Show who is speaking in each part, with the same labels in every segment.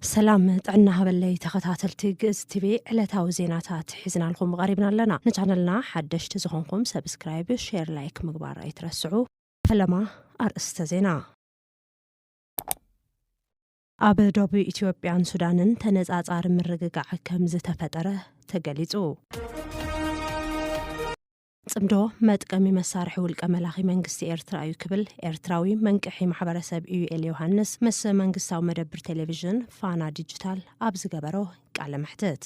Speaker 1: ሰላም ጥዕና ሃበለይ ተኸታተልቲ ግእዝ ቲቪ ዕለታዊ ዜናታት ሒዝናልኩም ቀሪብና ኣለና ንቻነልና ሓደሽቲ ዝኾንኩም ሰብስክራይብ ሼር ላይክ ምግባር ኣይትረስዑ ፈለማ ኣርእስተ ዜና ኣብ ዶብ ኢትዮጵያን ሱዳንን ተነፃፃሪ ምርግጋዕ ከምዝተፈጠረ ተገሊፁ። ፅምዶ መጥቀሚ መሳርሒ ውልቀ መላኺ መንግስቲ ኤርትራ እዩ ክብል ኤርትራዊ መንቅሒ ማሕበረሰብ ኢዩኤል ዮሃንስ ምስ መንግስታዊ መደብር ቴሌቪዥን ፋና ዲጂታል ኣብ ዝገበሮ ቃለ መሕትት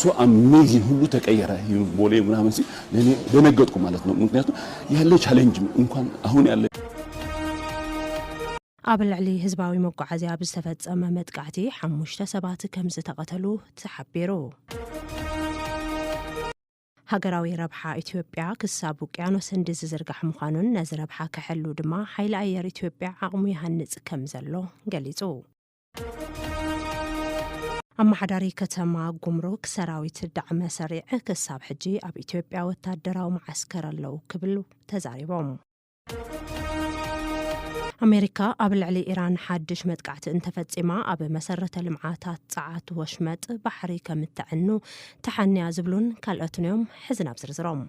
Speaker 2: ሶ ኣሜዚን ሁሉ ተቀየረ ይሉ ቦሌ ምናምን ሲል ለኔ ደነገጥኩ ማለት ነው ምክንያቱ ያለ ቻሌንጅ እንኳን አሁን ያለ
Speaker 1: ኣብ ልዕሊ ህዝባዊ መጓዓዝያ ኣብ ዝተፈጸመ መጥቃዕቲ ሓሙሽተ ሰባት ከም ዝተቐተሉ ተሓቢሩ። ሃገራዊ ረብሓ ኢትዮጵያ ክሳብ ውቅያኖስ ህንዲ ዝዝርጋሕ ምዃኑን ነዚ ረብሓ ክሕሉ ድማ ሓይሊ ኣየር ኢትዮጵያ ዓቕሙ ይሃንጽ ከም ዘሎ ገሊጹ። ኣመሓዳሪ ከተማ ጉምሩክ ሰራዊት ዳዕመ ሰሪዕ ክሳብ ሕጂ ኣብ ኢትዮጵያ ወታደራዊ መዓስከር ኣለው ክብሉ ተዛሪቦም። ኣሜሪካ ኣብ ልዕሊ ኢራን ሓድሽ መጥቃዕቲ እንተፈጺማ ኣብ መሰረተ ልምዓታት ጸዓት ወሽመጥ ባሕሪ ከም እተዕኑ ተሓንያ ዝብሉን ካልኦትን እዮም። ሕዚ ናብ ዝርዝሮም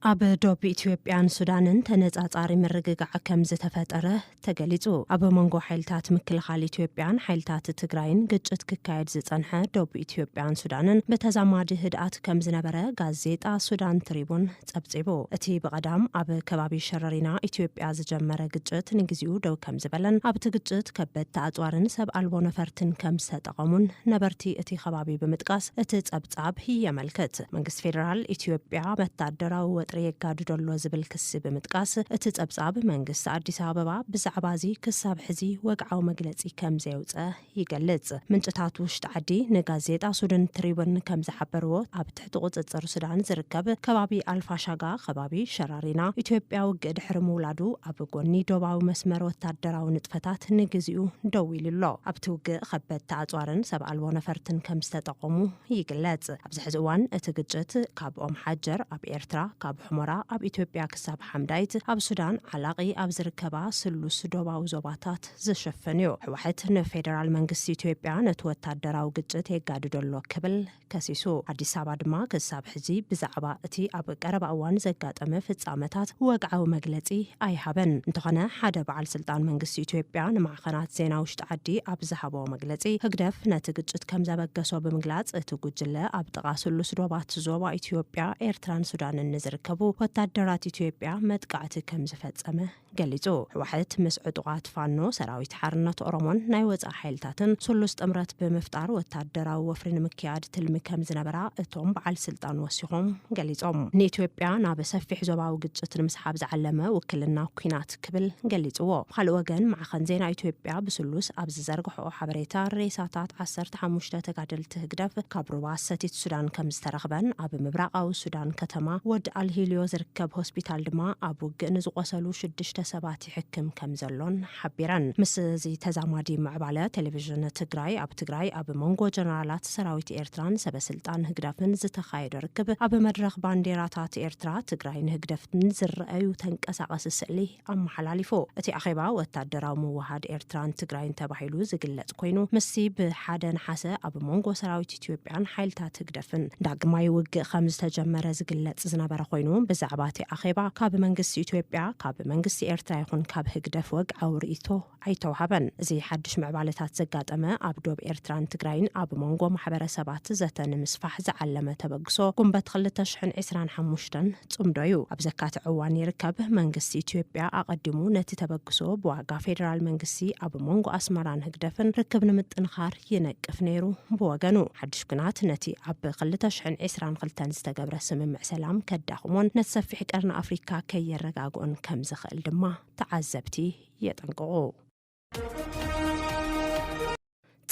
Speaker 1: ኣብ ዶብ ኢትዮጵያን ሱዳንን ተነጻጻሪ ምርግጋዕ ከም ዝተፈጠረ ተገሊጹ። ኣብ መንጎ ሓይልታት ምክልኻል ኢትዮጵያን ሓይልታት ትግራይን ግጭት ክካየድ ዝጸንሐ ዶብ ኢትዮጵያን ሱዳንን ብተዛማዲ ህድኣት ከም ዝነበረ ጋዜጣ ሱዳን ትሪቡን ጸብጺቡ። እቲ ብቐዳም ኣብ ከባቢ ሸረሪና ኢትዮጵያ ዝጀመረ ግጭት ንግዚኡ ደው ከም ዝበለን ኣብቲ ግጭት ከበድቲ ኣጽዋርን ሰብ ኣልቦ ነፈርትን ከም ዝተጠቐሙን ነበርቲ እቲ ከባቢ ብምጥቃስ እቲ ጸብ ጻብሂ የመልክት። መንግስቲ ፌደራል ኢትዮጵያ ወታደራዊ ወጥሪ የጋድዶ ኣሎ ዝብል ክሲ ብምጥቃስ፣ እቲ ጸብጻብ መንግስቲ ኣዲስ ኣበባ ብዛዕባ'ዚ ክሳብ ሕዚ ወግዓዊ መግለጺ ከም ዘየውጸ ይገልጽ። ምንጭታት ውሽጢ ዓዲ ንጋዜጣ ሱድን ትሪቡን ከም ዝሓበርዎ፣ ኣብ ትሕቲ ቁጽጽር ሱዳን ዝርከብ ከባቢ ኣልፋሻጋ፣ ከባቢ ሸራሪና፣ ኢትዮጵያ ውግእ ድሕሪ ምውላዱ ኣብ ጎኒ ዶባዊ መስመር ወታደራዊ ንጥፈታት ንግዚኡ ደው ኢሉ ኣሎ። ኣብቲ ውግእ ከበድቲ ኣጽዋርን ሰብ ኣልቦ ነፈርትን ከም ዝተጠ። ኦሙ ይግለጽ። ኣብዚ ሕዚ እዋን እቲ ግጭት ካብ ኦም ሓጀር ኣብ ኤርትራ፣ ካብ ሑሞራ ኣብ ኢትዮጵያ ክሳብ ሓምዳይት ኣብ ሱዳን ዓላቒ ኣብ ዝርከባ ስሉስ ዶባዊ ዞባታት ዝሽፍን እዩ። ሕዋሕት ንፌደራል መንግስቲ ኢትዮጵያ ነቲ ወታደራዊ ግጭት የጋድዶ ኣሎ ክብል ከሲሱ። ኣዲስ ኣበባ ድማ ክሳብ ሕዚ ብዛዕባ እቲ ኣብ ቀረባ እዋን ዘጋጠመ ፍጻመታት ወግዓዊ መግለጺ ኣይሃበን። እንተኾነ ሓደ በዓል ስልጣን መንግስቲ ኢትዮጵያ ንማዕኸናት ዜና ውሽጢ ጉዳያት ዓዲ ኣብ ዝሃቦ መግለጺ፣ ህግደፍ ነቲ ግጭት ከም ዘበገሶ ብምግላጽ፣ እቲ ጉጅለ ኣብ ጥቓ ስሉስ ዶባት ዞባ ኢትዮጵያ፣ ኤርትራን ሱዳንን ንዝርከቡ ወታደራት ኢትዮጵያ መጥቃዕቲ ከም ዝፈጸመ ገሊጹ። ህወሓት ምስ ዕጡቓት ፋኖ፣ ሰራዊት ሓርነት ኦሮሞን ናይ ወጻኢ ሓይልታትን ስሉስ ጥምረት ብምፍጣር ወታደራዊ ወፍሪ ንምክያድ ትልሚ ከም ዝነበራ እቶም በዓል ስልጣን ወሲኾም ገሊጾም። ንኢትዮጵያ ናብ ሰፊሕ ዞባዊ ግጭት ንምስሓብ ዝዓለመ ውክልና ኲናት፣ ሞት ክብል ገሊጽዎ። ብኻልእ ወገን ማዕኸን ዜና ኢትዮጵያ ብስሉስ ኣብ ዝዘርግሖኦ ሓበሬታ፣ ሬሳታት ዓሰርተ ሓሙሽተ ተጋደልቲ ህግደፍ ካብ ሩባ ሰቲት ሱዳን ከምዝተረኽበን ኣብ ምብራቓዊ ሱዳን ከተማ ወድ ኣልሂልዮ ዝርከብ ሆስፒታል ድማ ኣብ ውግእ ንዝቖሰሉ ሽዱሽተ ሰባት ይሕክም ከምዘሎን ሓቢረን። ምስዚ ተዛማዲ ምዕባለ ቴሌቪዥን ትግራይ ኣብ ትግራይ ኣብ መንጎ ጀነራላት ሰራዊት ኤርትራን ሰበስልጣን ህግደፍን ዝተኻየደ ርክብ፣ ኣብ መድረኽ ባንዴራታት ኤርትራ፣ ትግራይን ህግደፍን ዝረኣዩ ተንቀሳቐሲ ስእሊ ኣመሓላሊፉ። እቲ ኣኼባ ወታደራዊ ምውህሃድ ኤርትራን ትግራይን ተባሂሉ ዝግለጽ ኮይኑ፣ ምስዚ ብሓደ ነሓሰ ኣብ ሞንጎ ሰራዊት ኢትዮጵያን ሓይልታት ህግደፍን ዳግማይ ውግእ ከምዝተጀመረ ዝግለጽ ዝነበረ ኮይኑ፣ ብዛዕባ እቲ ኣኼባ ካብ መንግስቲ ኢትዮጵያ፣ ካብ መንግስቲ ኤርትራ ይኹን ካብ ህግደፍ ወግዓዊ ርእይቶ ኣይተውሃበን። እዚ ሓድሽ ምዕባለታት ዘጋጠመ ኣብ ዶብ ኤርትራን ትግራይን ኣብ ሞንጎ ማሕበረሰባት ዘተ ንምስፋሕ ዝዓለመ ተበግሶ ጉንበት ክልተ ሽሕን ዕስራን ሓሙሽተን ጽምዶ እዩ ኣብ ዘካትዕ እዋን ይርከብ። መንግስቲ ኢትዮጵያ ኣቐዲሙ ነቲ ተበግሶ ብዋጋ ፌደራል መንግስቲ ኣብ ሞንጎ ኣስመራን ህግደፍን ርክብ ንምጥንኻር ይነቅፍ ነይሩ። ብወገኑ ሓድሽ ኲናት ነቲ ኣብ ክልተ ሽሕን ዕስራን ክልተን ዝተገብረ ስምምዕ ሰላም ከዳኽሞን ነቲ ሰፊሕ ቀርኒ ኣፍሪካ ከየረጋግኦን ከምዝኽእል ድማ ተዓዘብቲ የጠንቅቑ።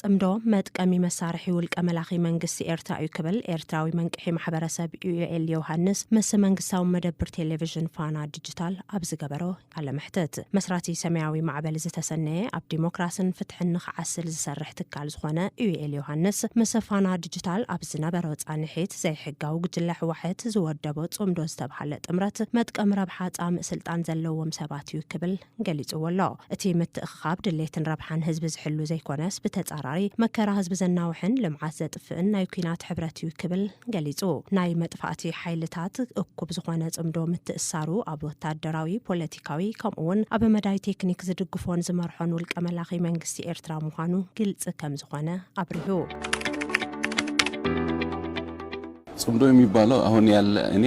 Speaker 1: ጽምዶ መጥቀሚ መሳርሒ ውልቀ መላኺ መንግስቲ ኤርትራ እዩ ክብል ኤርትራዊ መንቅሒ ማሕበረሰብ ዩኤል ዮሃንስ ምስ መንግስታዊ መደብር ቴሌቪዥን ፋና ዲጂታል ኣብ ዝገበሮ ቃለ መሕትት መስራቲ ሰማያዊ ማዕበል ዝተሰነየ ኣብ ዲሞክራስን ፍትሕን ንኽዓስል ዝሰርሕ ትካል ዝኾነ ዩኤል ዮሃንስ ምስ ፋና ዲጂታል ኣብ ዝነበሮ ጻንሒት ዘይሕጋዊ ጉጅለ ሕዋሕት ዝወደቦ ጽምዶ ዝተብሃለ ጥምረት መጥቀሚ ረብሓ ጻምእ ስልጣን ዘለዎም ሰባት መሰረት እዩ ክብል ገሊፅዎ ኣሎ። እቲ ምትእኽኻብ ድሌትን ረብሓን ህዝቢ ዝሕሉ ዘይኮነስ ብተፃራሪ መከራ ህዝቢ ዘናውሕን ልምዓት ዘጥፍእን ናይ ኲናት ሕብረት እዩ ክብል ገሊፁ። ናይ መጥፋእቲ ሓይልታት እኩብ ዝኾነ ፅምዶ ምትእስሳሩ ኣብ ወታደራዊ፣ ፖለቲካዊ ከምኡ እውን ኣብ መዳይ ቴክኒክ ዝድግፎን ዝመርሖን ውልቀ መላኺ መንግስቲ ኤርትራ ምዃኑ ግልፂ ከምዝኾነ ኣብሪሁ።
Speaker 2: ፅምዶ የሚባለው አሁን ያለ እኔ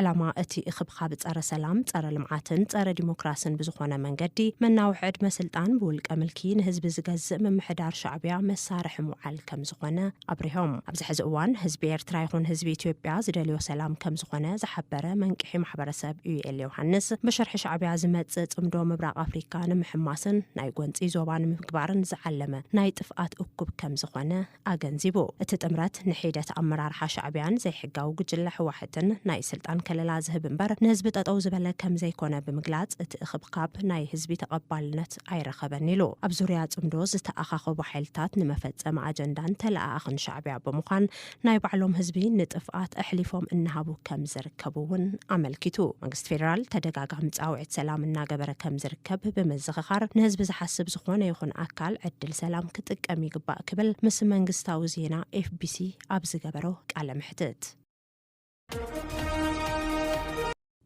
Speaker 1: ዕላማ እቲ እኽብካብ ፀረ ሰላም፣ ፀረ ልምዓትን ፀረ ዲሞክራስን ብዝኾነ መንገዲ መናውሒ ዕድመ ስልጣን ብውልቀ ምልኪ ንህዝቢ ዝገዝእ ምምሕዳር ሻዕቢያ መሳርሒ ምውዓል ከምዝኾነ ኣብሪሆም። ኣብዚ ሕዚ እዋን ህዝቢ ኤርትራ ይኹን ህዝቢ ኢትዮጵያ ዝደልዮ ሰላም ከምዝኾነ ዝሓበረ መንቅሒ ማሕበረሰብ ኡዩኤል ዮውሃንስ ብሽርሒ ሻዕቢያ ዝመፅእ ፅምዶ ምብራቕ ኣፍሪካ ንምሕማስን ናይ ጎንፂ ዞባ ንምግባርን ዝዓለመ ናይ ጥፍኣት እኩብ ከምዝኾነ ኣገንዚቡ። እቲ ጥምረት ንሒደት ኣመራርሓ ሻዕቢያን ዘይሕጋዊ ጉጅለ ህዋሕትን ናይ ስልጣን ከለላ ዝህብ እምበር ንህዝቢ ጠጠው ዝበለ ከምዘይኮነ ብምግላፅ እቲ እኽብካብ ናይ ህዝቢ ተቐባልነት ኣይረኸበን ኢሉ። ኣብ ዙርያ ፅምዶ ዝተኣኻኸቡ ሓይልታት ንመፈፀሚ ኣጀንዳን ተለኣኣኽን ሻዕቢያ ብምዃን ናይ ባዕሎም ህዝቢ ንጥፍኣት ኣሕሊፎም እናሃቡ ከምዝርከቡ ከምኡ እውን ኣመልኪቱ። መንግስቲ ፌደራል ተደጋጋሚ ፃውዒት ሰላም እናገበረ ከም ዝርከብ ብምዝኽኻር፣ ንህዝቢ ዝሓስብ ዝኾነ ይኹን ኣካል ዕድል ሰላም ክጥቀም ይግባእ ክብል ምስ መንግስታዊ ዜና ኤፍቢሲ ኣብ ዝገበሮ ቃለ መሕትት።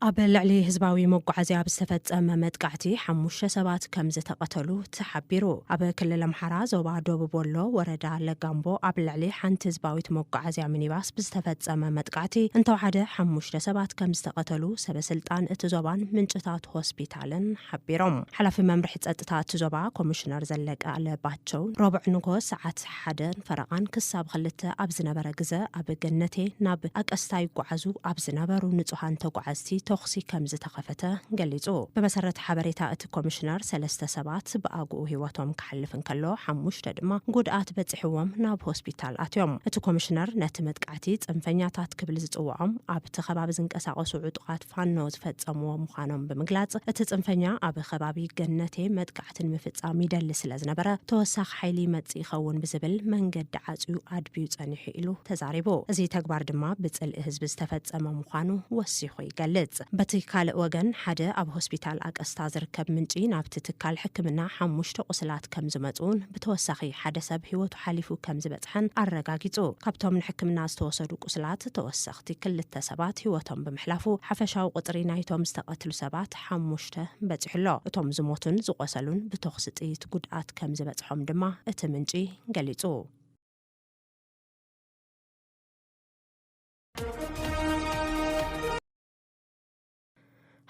Speaker 1: ኣብ ልዕሊ ህዝባዊ መጓዓዝያ ብዝተፈፀመ መጥቃዕቲ ሓሙሽተ ሰባት ከምዝተቐተሉ ተሓቢሩ። ኣብ ክልል ኣምሓራ ዞባ ደቡብ ወሎ ወረዳ ለጋምቦ ኣብ ልዕሊ ሓንቲ ህዝባዊት መጓዓዝያ ሚኒባስ ብዝተፈፀመ መጥቃዕቲ እንተወሓደ ሓሙሽተ ሰባት ከምዝተቐተሉ ሰበ ስልጣን እቲ ዞባን ምንጭታት ሆስፒታልን ሓቢሮም። ሓላፊ መምርሒ ፀጥታ እቲ ዞባ ኮሚሽነር ዘለቀ ኣለባቸው ረቡዕ ንግሆ ሰዓት ሓደን ፈረቓን ክሳብ ኽልተ ኣብ ዝነበረ ግዘ ኣብ ገነቴ ናብ ኣቀስታ ይጓዓዙ ኣብ ዝነበሩ ንፁሃን ተጓዓዝቲ ተኹሲ ከምዝተኸፈተ ገሊፁ። ብመሰረት ሓበሬታ እቲ ኮሚሽነር ሰለስተ ሰባት ብኣግኡ ህይወቶም ክሓልፍ እንከሎ ሓሙሽተ ድማ ጉድኣት በፂሑዎም ናብ ሆስፒታል ኣትዮም። እቲ ኮሚሽነር ነቲ መጥቃዕቲ ፅንፈኛታት ክብል ዝፅወዖም ኣብቲ ከባቢ ዝንቀሳቐሱ ዕጡቓት ፋኖ ዝፈፀምዎ ምዃኖም ብምግላፅ፣ እቲ ፅንፈኛ ኣብ ኸባቢ ገነቴ መጥቃዕቲ ንምፍፃም ይደሊ ስለዝነበረ ተወሳኺ ሓይሊ ይመፅእ ይኸውን ብዝብል መንገዲ ዓፅዩ ኣድብዩ ፀኒሑ ኢሉ ተዛሪቡ። እዚ ተግባር ድማ ብፅልኢ ህዝቢ ዝተፈፀመ ምዃኑ ወሲኹ ይገልፅ። በቲ ካልእ ወገን ሓደ ኣብ ሆስፒታል ኣቀስታ ዝርከብ ምንጪ ናብቲ ትካል ሕክምና ሓሙሽተ ቁስላት ከምዝመፅኡን ብተወሳኺ ሓደ ሰብ ህይወቱ ሓሊፉ ከምዝበፅሐን ኣረጋጊፁ። ካብቶም ንሕክምና ዝተወሰዱ ቁስላት ተወሰ ሸለቕቲ ክልተ ሰባት ህይወቶም ብምሕላፉ ሓፈሻዊ ቁጽሪ ናይቶም ዝተቐትሉ ሰባት ሓሙሽተ በጺሑ ኣሎ። እቶም ዝሞቱን ዝቖሰሉን ብቶኽሲ ጥይት ጉድኣት ከም ዝበጽሖም ድማ እቲ ምንጪ ገሊጹ።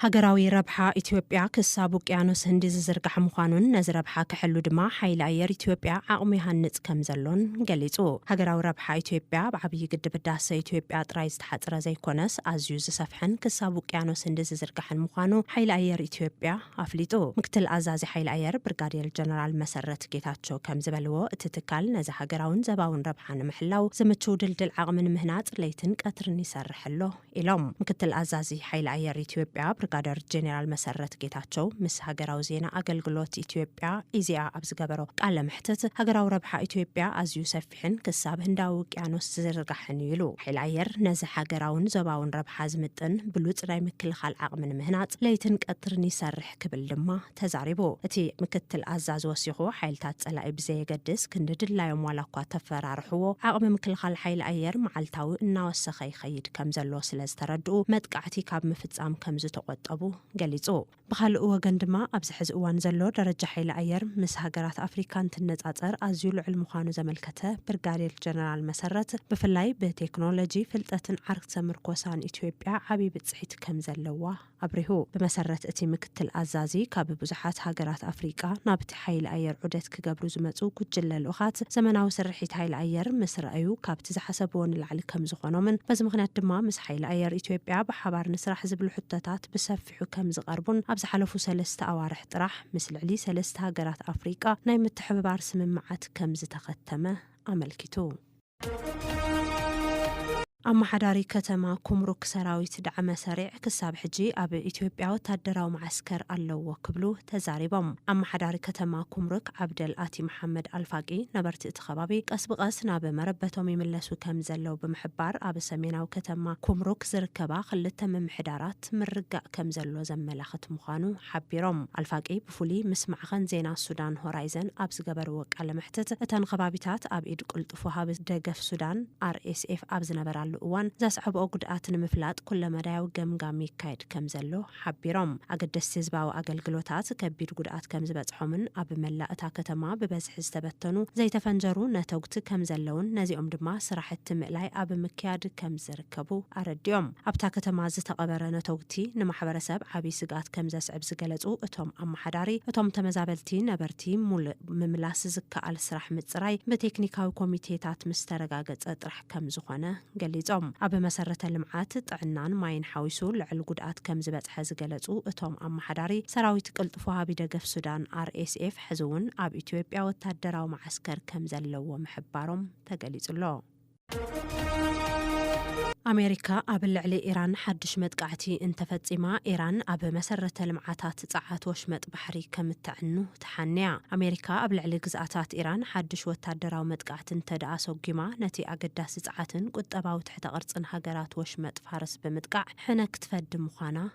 Speaker 1: ሃገራዊ ረብሓ ኢትዮጵያ ክሳብ ውቅያኖስ ህንዲ ዝዝርጋሕ ምዃኑን ነዚ ረብሓ ክሕሉ ድማ ሓይሊ ኣየር ኢትዮጵያ ዓቕሙ ይሃንፅ ከምዘሎን ገሊፁ። ሃገራዊ ረብሓ ኢትዮጵያ ኣብ ዓብዪ ግድብ ህዳሰ ኢትዮጵያ ጥራይ ዝተሓፅረ ዘይኮነስ ኣዝዩ ዝሰፍሐን ክሳብ ውቅያኖስ ህንዲ ዝዝርጋሕን ምዃኑ ሓይሊ ኣየር ኢትዮጵያ ኣፍሊጡ። ምክትል ኣዛዚ ሓይሊ ኣየር ብርጋዴር ጀነራል መሰረት ጌታቸው ከምዝበልዎ፣ እቲ ትካል ነዚ ሃገራውን ዘባውን ረብሓ ንምሕላው ዝምችው ድልድል ዓቕሚ ንምህናፅ ለይትን ቀትርን ይሰርሕ ኣሎ ኢሎም ምክትል ኣዛዚ ሓይሊ ኣየር ኢትዮጵያ ብርጋደር ጄኔራል መሰረት ጌታቸው ምስ ሃገራዊ ዜና ኣገልግሎት ኢትዮጵያ ኢዜኣ ኣብ ዝገበሮ ቃለ መሕትት ሃገራዊ ረብሓ ኢትዮጵያ ኣዝዩ ሰፊሕን ክሳብ ህንዳዊ ውቅያኖስ ዝዝርጋሕን እዩ ኢሉ። ሓይሊ ኣየር ነዚ ሃገራውን ዞባውን ረብሓ ዝምጥን ብሉፅ ናይ ምክልኻል ዓቕሚ ንምህናፅ ለይትን ቀትርን ይሰርሕ ክብል ድማ ተዛሪቡ። እቲ ምክትል ኣዛዚ ወሲኹ፣ ሓይልታት ጸላኢ ብዘየገድስ ክንዲ ድላዮም ዋላኳ ተፈራርሕዎ፣ ዓቕሚ ምክልኻል ሓይሊ ኣየር መዓልታዊ እናወሰኸ ይኸይድ ከምዘሎ ስለዝተረድኡ መጥቃዕቲ ካብ ምፍጻም ከምዝተቖጠቡ ገሊጹ። ብኻልእ ወገን ድማ ኣብዚ ሕዚ እዋን ዘሎ ደረጃ ሓይሊ ኣየር ምስ ሃገራት ኣፍሪካ እንትነፃፀር ኣዝዩ ልዑል ምዃኑ ዘመልከተ ብርጋዴር ጀነራል መሰረት፣ ብፍላይ ብቴክኖሎጂ፣ ፍልጠትን ዓርክሰ ምርኮሳን ኢትዮጵያ ዓብዪ ብፅሒት ከምዘለዋ ኣብሪሁ። ብመሰረት እቲ ምክትል ኣዛዚ፣ ካብ ብዙሓት ሃገራት ኣፍሪቃ ናብቲ ሓይሊ ኣየር ዑደት ክገብሩ ዝመጹ ጉጅለ ልኡኻት፣ ዘመናዊ ስርሒት ሓይሊ ኣየር ምስ ረኣዩ ካብቲ ዝሓሰብዎ ንላዕሊ ከም ዝኾኖምን በዚ ምኽንያት ድማ ምስ ሓይሊ ኣየር ኢትዮጵያ ብሓባር ንስራሕ ዝብሉ ሕቶታት ብሰፊሑ ከም ዝቐርቡን ኣብ ዝሓለፉ ሰለስተ ኣዋርሕ ጥራሕ ምስ ልዕሊ ሰለስተ ሃገራት ኣፍሪቃ ናይ ምትሕብባር ስምምዓት ከም ዝተኸተመ ኣመልኪቱ። ኣመሓዳሪ ከተማ ኩምሩክ ሰራዊት ዳዕመ ሰሪዕ ክሳብ ሕጂ ኣብ ኢትዮጵያ ወታደራዊ መዓስከር ኣለዎ ክብሉ ተዛሪቦም። ኣመሓዳሪ ከተማ ኩምሩክ ዓብደል ኣቲ መሓመድ ኣልፋቂ ነበርቲ እቲ ከባቢ ቀስ ብቐስ ናብ መረበቶም ይምለሱ ከምዘለው ብምሕባር ኣብ ሰሜናዊ ከተማ ኩምሩክ ዝርከባ ክልተ ምምሕዳራት ምርጋእ ከምዘሎ ዘመላኽት ምዃኑ ሓቢሮም። ኣልፋቂ ብፍሉይ ምስ ማዕኸን ዜና ሱዳን ሆራይዘን ኣብ ዝገበርዎ ቃለ መሕትት፣ እተን ኸባቢታት ኣብ ኢድ ቅልጡፍ ወሃቢ ደገፍ ሱዳን፣ RSF፣ ኣብ ዝነበራሉ እዋን ዘስዐብኦ ጉድኣት ንምፍላጥ ኩለመዳያዊ ገምጋም ይካየድ ከም ዘሎ ሓቢሮም። ኣገደስቲ ህዝባዊ ኣገልግሎታት ከቢድ ጉድኣት ከም ዝበፅሖምን ኣብ መላእ እታ ከተማ ብበዝሒ ዝተበተኑ ዘይተፈንጀሩ ነተጉቲ ከም ዘለዉን ነዚኦም ድማ ስራሕቲ ምእላይ ኣብ ምክያድ ከም ክርከቡ ኣረዲኦም። ኣብታ ከተማ ዝተቐበረ ነተጉቲ ንማሕበረሰብ ዓብይ ስግኣት ከምዘስዕብ ዝገለፁ እቶም ኣመሓዳሪ፣ እቶም ተመዛበልቲ ነበርቲ ሙሉእ ምምላስ ዝከኣል ስራሕ ምፅራይ ብቴክኒካዊ ኮሚቴታት ምስተረጋገፀ ጥራሕ ከምዝኾነ ገሊፆም። ኣብ መሰረተ ልምዓት፣ ጥዕናን ማይን ሓዊሱ ልዕል ጉድኣት ከምዝበፅሐ ዝገለፁ እቶም ኣመሓዳሪ፣ ሰራዊት ቅልጡፍ ወሃቢ ደገፍ ሱዳን፣ RSF፣ ሕዚ እውን ኣብ ኢትዮጵያ ወታደራዊ መዓስከር ከምዘለዎ ምሕባሮም ተገሊፁ'ሎ። ኣሜሪካ ኣብ ልዕሊ ኢራን ሓድሽ መጥቃዕቲ እንተፈጺማ ኢራን ኣብ መሰረተ ልምዓታት ጸዓት ወሽመጥ ባሕሪ ከም እተዕኑ ተሓንያ። ኣሜሪካ ኣብ ልዕሊ ግዝኣታት ኢራን ሓድሽ ወታደራዊ መጥቃዕቲ እንተድኣ ኣሰጒማ ነቲ ኣገዳሲ ጸዓትን ቁጠባዊ ትሕተ ቅርጽን ሃገራት ወሽመጥ ፋርስ ብምጥቃዕ ሕነ ክትፈዲ ምዃና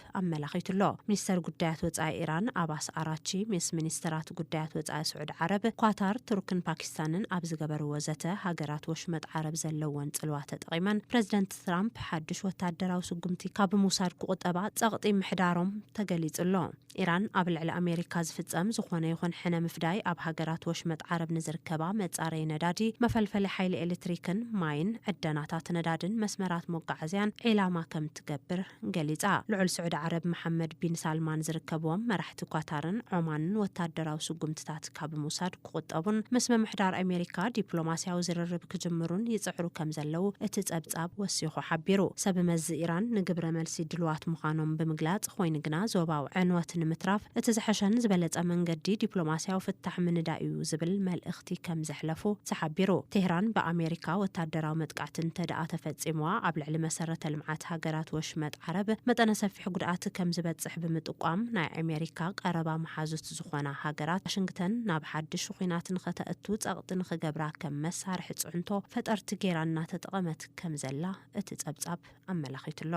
Speaker 1: ትራፕ ኣመላኺቱ ኣሎ። ሚኒስተር ጉዳያት ወጻኢ ኢራን ኣባስ ኣራቺ ምስ ሚኒስተራት ጉዳያት ወጻኢ ስዑድ ዓረብ፣ ኳታር፣ ቱርክን ፓኪስታንን ኣብ ዝገበርዎ ዘተ፣ ሃገራት ወሽመጥ ዓረብ ዘለወን ጽልዋ ተጠቒመን ፕረዚደንት ትራምፕ ሓድሽ ወተሃደራዊ ስጉምቲ ካብ ምውሳድ ክቑጠባ ጸቕጢ ምሕዳሮም ተገሊጹ ኣሎ። ኢራን ኣብ ልዕሊ ኣሜሪካ ዝፍጸም ዝኾነ ይኹን ሕነ ምፍዳይ ኣብ ሃገራት ወሽመጥ ዓረብ ንዝርከባ መጻረዪ ነዳዲ፣ መፈልፈሊ ሓይሊ ኤሌትሪክን ማይን፣ ዕደናታት ነዳድን መስመራት መጓዓዝያን ዒላማ ከምትገብር ገሊጻ። ልዑል ስዑዲ ዓረብ መሓመድ ቢን ሳልማን ዝርከብዎም መራሕቲ ኳታርን ዖማንን ወታደራዊ ስጉምትታት ካብ ምውሳድ ክቑጠቡን ምስ ምምሕዳር ኣሜሪካ ዲፕሎማስያዊ ዝርርብ ክጅምሩን ይጽዕሩ ከምዘለዉ እቲ ጸብጻብ ወሲኹ ሓቢሩ። ሰብመዚ ኢራን ንግብረመልሲ ድሉዋት ምዃኖም ብምግላጽ፣ ኾይኑ ግና ዞባዊ ዕንወት ንምትራፍ እቲ ዝሐሸን ዝበለጸ መንገዲ ዲፕሎማስያዊ ፍታሕ ምንዳይ'ዩ ዝብል መልእኽቲ መጥቃዕቲ ከም ዘሕለፉ ተሓቢሩ። ቴህራን ብኣሜሪካ ወታደራዊ መጥቃዕቲ እንተድኣ ተፈጺምዋ ኣብ ልዕሊ መሰረተ ልምዓት ሃገራት ወሽመጥ ዓረብ መጠነ ሰፊሕ ጉድኣት ከም ዝበጽሕ ብምጥቋም ናይ ኣሜሪካ ቀረባ መሓዙት ዝኾና ሃገራት ዋሽንግተን ናብ ሓድሽ ኹናት ንኸተእቱ ጸቕጢ ንኽገብራ ከም መሳርሒ ጽዕንቶ ፈጠርቲ ገይራ እናተጠቐመት ከም ዘላ እቲ ጸብጻብ ኣመላኺቱ'ሎ።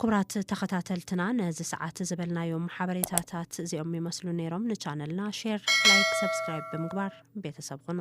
Speaker 1: ኩቡራት ተኸታተልትና ነዚ ሰዓት ዝበልናዮም ሓበሬታታት እዚኦም ይመስሉ ነይሮም ንቻነልና ሼር ላይክ ሰብስክራይብ ብምግባር ቤተሰብ ኹኑ።